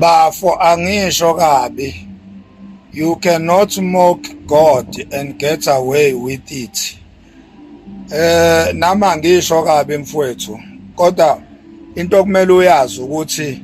Bafo angisho kabi. You cannot mock God and get away with it. Eh nama ngisho kabi mfwethu kodwa into okumele uyazi ukuthi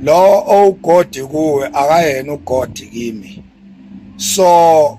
lo owugodi kuwe akayena ugodi kimi so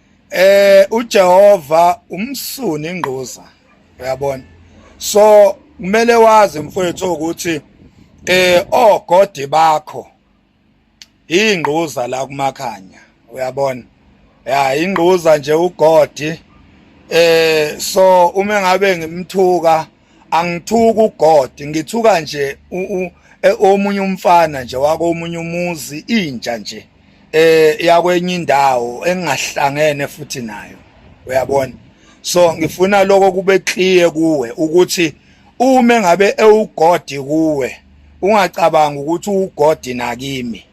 eh uJehova umsuni ingquza uyabona so kumele wazi mfowethu ukuthi eh ogodi bakho ingquza la kumakhanya uyabona ya ingquza nje ugodi eh so uma ngabe ngimthuka angithuka ugod ngithuka nje e, omunye umfana nje wako omunye umuzi intsha nje eh yakwenye indawo engahlangene futhi nayo uyabona so ngifuna lokho kube clear kuwe ukuthi uma ngabe ewugodi kuwe ungacabanga ukuthi uwugodi nakimi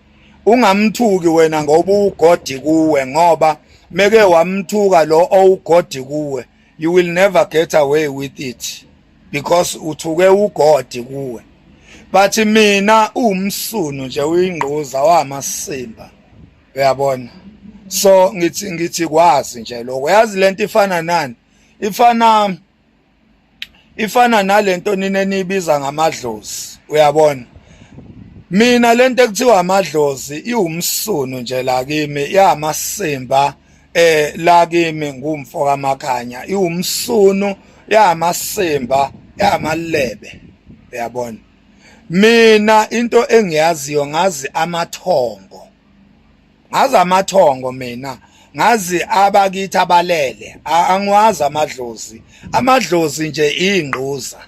ungamthuki wena ngoba uwugodi kuwe ngoba meke wamthuka lo owugodi kuwe you will never get away with it because uthuke ugodi kuwe but mina uwumsunu nje uyingquza wamasimba uyabona so ngithi ngithi kwazi nje lokho yazi lento ifana nani ifana ifana nalento nina nibiza ngamadlozi uyabona mina lento ekuthiwa amadlozi iwumsunu nje la kimi yamasimba eh la kimi ngumfo kamakanya iwumsunu yamasimba yamalebe uyabona mina into engiyaziyo ngazi amathongo ngazi amathongo mina ngazi abakithi abalele angiwazi amadlozi amadlozi nje ingquza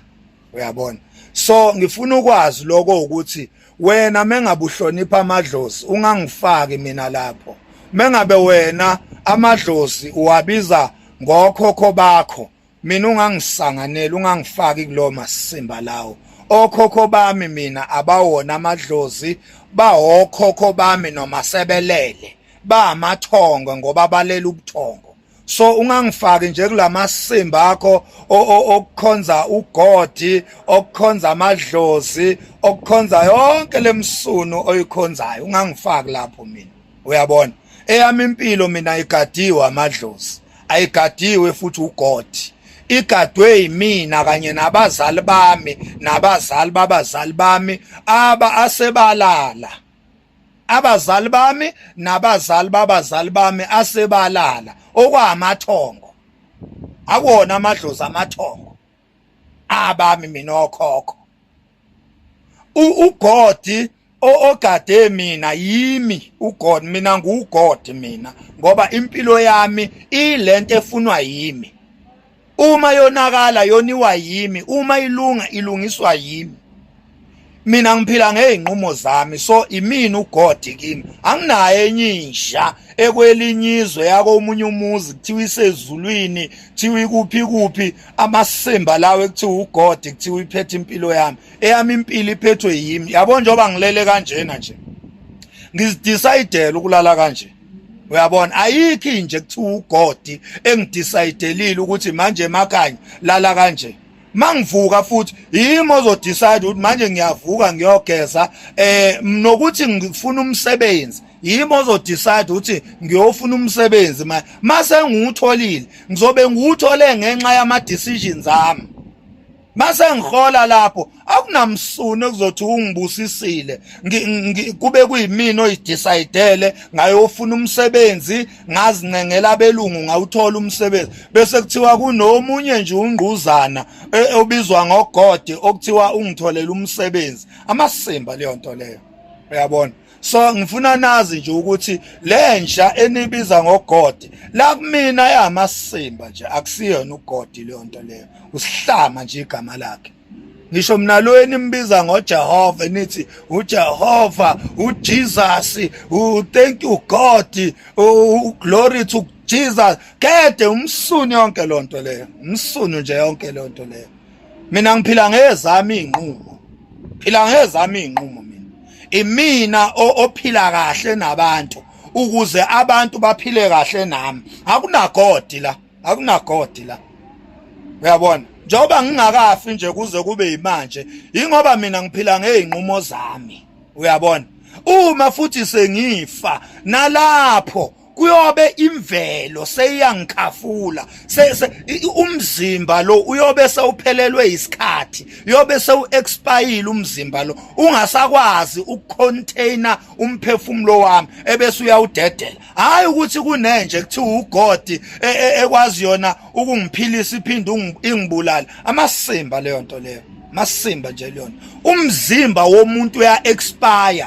uyabona so ngifuna ukwazi lokho ukuthi wena mengabuhlonipha amadlozi ungangifaki mina lapho mengabe wena amadlozi uwabiza ngokhokho bakho mina ungangisanganeli ungangifaki kulowo masimba lawo okhokho bami mina abawona amadlozi bawokhokho bami noma sebelele bamathongo ngoba balela ubuthongo so ungangifaki nje kulamasimbi akho okukhonza ugodi okukhonza amadlozi okukhonza yonke lemsunu oyikhonzayo ungangifaki lapho mina uyabona eyami impilo mina igadiwe amadlozi ayigadiwe futhi ugodi igadwe yimina kanye nabazali bami nabazali babazali bami aba asebalala abazali bami nabazali babazali bami asebalala okwamathongo akuwona amadlozi amathongo abami mina okhokho ugodi ogade mina yimi ugod mina nguwugod mina ngoba impilo yami ilento efunwa yimi uma yonakala yoniwa yimi uma ilunga ilungiswa yimi mina ngiphila ngeyinqumo zami so imini uGod kimi anginaye enye insha ekwelinyizwe yako umunye umuzi kuthiwa isezulwini kuthiwa ikuphi kuphi amasimba lawo ekuthiwa uGod kuthiwa iphethe impilo yami eyami impilo iphethwe yimi yabo njengoba ngilele kanjena nje ngizidecidele ukulala kanje uyabona ayikho inje kuthiwa ugodi engidecidelile ukuthi manje makanye lala kanje mangivuka futhi yimi ozodecide ukuthi manje ngiyavuka ngiyogeza eh nokuthi ngifuna umsebenzi yimi ozodecide ukuthi ngiyofuna umsebenzi manje mase ngiwutholile ngizobe ngiwuthole ngenxa yama decisions ami mase ngihola lapho akunamsuni okuzothi ungibusisile kube kuyimina oyidecidele ngayofuna umsebenzi ngazincengela abelungu ngawuthola umsebenzi bese kuthiwa kunomunye nje ungquzana e, obizwa ngogode okuthiwa ungitholela umsebenzi amasimba leyo nto leyo uyabona so ngifuna nazi nje ukuthi lenja enibiza ngogodi la kumina yamasimba nje akusiyona ugodi leyo nto leyo usihlama nje igama lakhe ngisho mina lo enimbiza ngoJehova nithi uJehova uJesus u thank you God u glory to Jesus kade umsuni yonke lonto leyo umsuni nje yonke lonto leyo mina ngiphila ngezami inqumo phila ngezami inqumo mina imina ophila kahle nabantu ukuze abantu baphile kahle nami akunagodi la akunagodi la uyabona njengoba ngingakafi nje kuze kube yimanje ingoba mina ngiphila ngeyinqumo zami uyabona uma futhi sengifa nalapho kuyobe imvelo seyangikhafula umzimba lo uyobe sewuphelelwe isikhathi uyobe sewu-expayile umzimba lo ungasakwazi ukucontaina umphefumulo wami ebese uyawudedela hhayi ukuthi kunenje kuthiwa ugodi e, e, ekwazi yona ukungiphilisa iphinde ingibulale amasimba leyo nto leyo masimba nje leyona umzimba womuntu uya-expire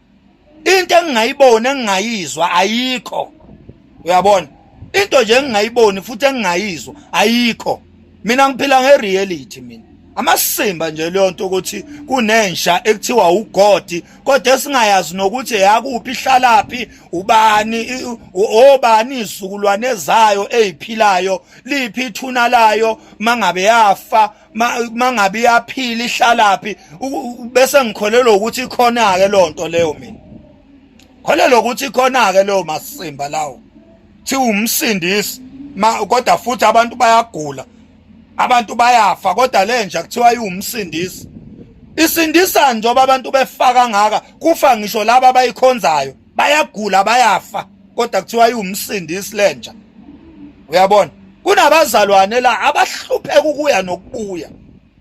into engingayiboni engingayizwa ayikho uyabona into nje engingayiboni futhi engingayizwa ayikho mina ngiphila ngereality mina amasimba nje leyo nto ukuthi kunensha ekuthiwa ugodi kodwa esingayazi nokuthi yakuphi ihlalaphi ubani obani izizukulwane zayo eziphilayo liphi ithuna layo mangabe yafa mangabe iyaphila ihlalaphi bese ngikholelwa ukuthi ikhona-ke loo nto leyo mina kholelwa ukuthi ikhona-ke leyo masimba lawo thiwa umsindisi kodwa futhi abantu bayagula abantu bayafa kodwa le nja kuthiwa iwumsindisi isindisa njengoba abantu befaka ngaka kufa ngisho laba abayikhonzayo bayagula bayafa kodwa kuthiwa iwumsindisi lenja uyabona kunabazalwane la abahlupheka ukuya nokubuya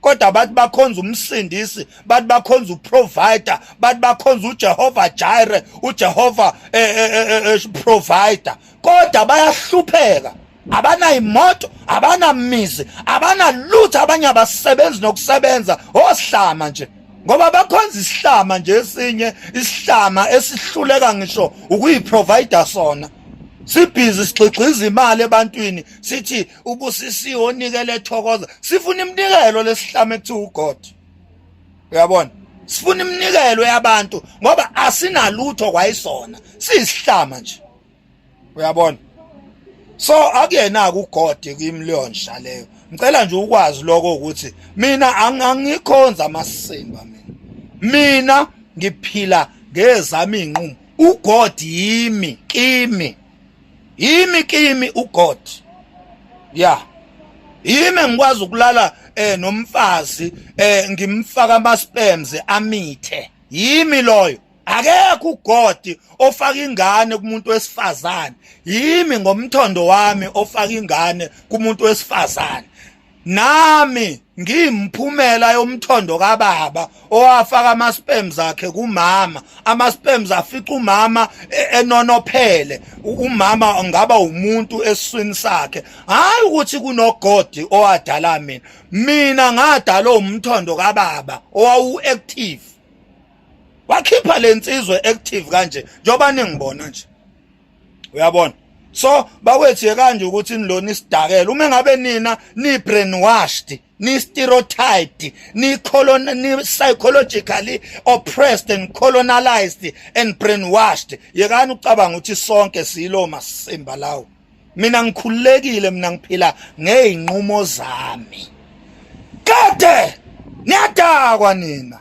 kodwa bathi bakhonza umsindisi bathi bakhonza uprovider bathi bakhonza uJehova Jireh uJehova eh, eh, eh, provider kodwa bayahlupheka abanayimoto abanamizi abanalutho abanye abasebenzi nokusebenza osihlama nje ngoba bakhonza isihlama nje esinye isihlama esihluleka ngisho ukuyiprovider sona sibhizi sigxigxiza imali ebantwini sithi ubusisiwe onikele ethokoza sifuna iminikelo lesihlama ekuthiwa ugod uyabona sifuna iminikelo yabantu ngoba asinalutho kwayisona siyisihlama nje uyabona so akuyena kugode kimi leyo nsha leyo ngicela nje ukwazi lokho ukuthi mina angikhonza amasimba mina mina ngiphila ngezami inqumo ugod yimi kimi yimi kimi ugod ya yimi ngikwazi ukulala eh nomfazi eh ngimfaka ama sperms amithe yimi loyo akekho ugodi ofaka ingane kumuntu wesifazane yimi ngomthondo wami ofaka ingane kumuntu wesifazane nami ngimphumela yomthondo kababa owafaka ama sperms akhe kumama ama sperms afica umama e, enonophele umama ngaba umuntu eswini sakhe hayi ukuthi kunogodi owadala mina mina ngadala umthondo kababa owawu active wakhipha lensizwe active kanje njoba ningibona nje uyabona so bawethu yekanje ukuthi nilona isidakela uma ngabe nina ni brainwashed ni stereotyped ni colon ni psychologically oppressed and colonized and brainwashed yekani ucabanga ukuthi sonke silo masimba lawo mina ngikhululekile mina ngiphila ngeyinqumo zami kade niyadakwa nina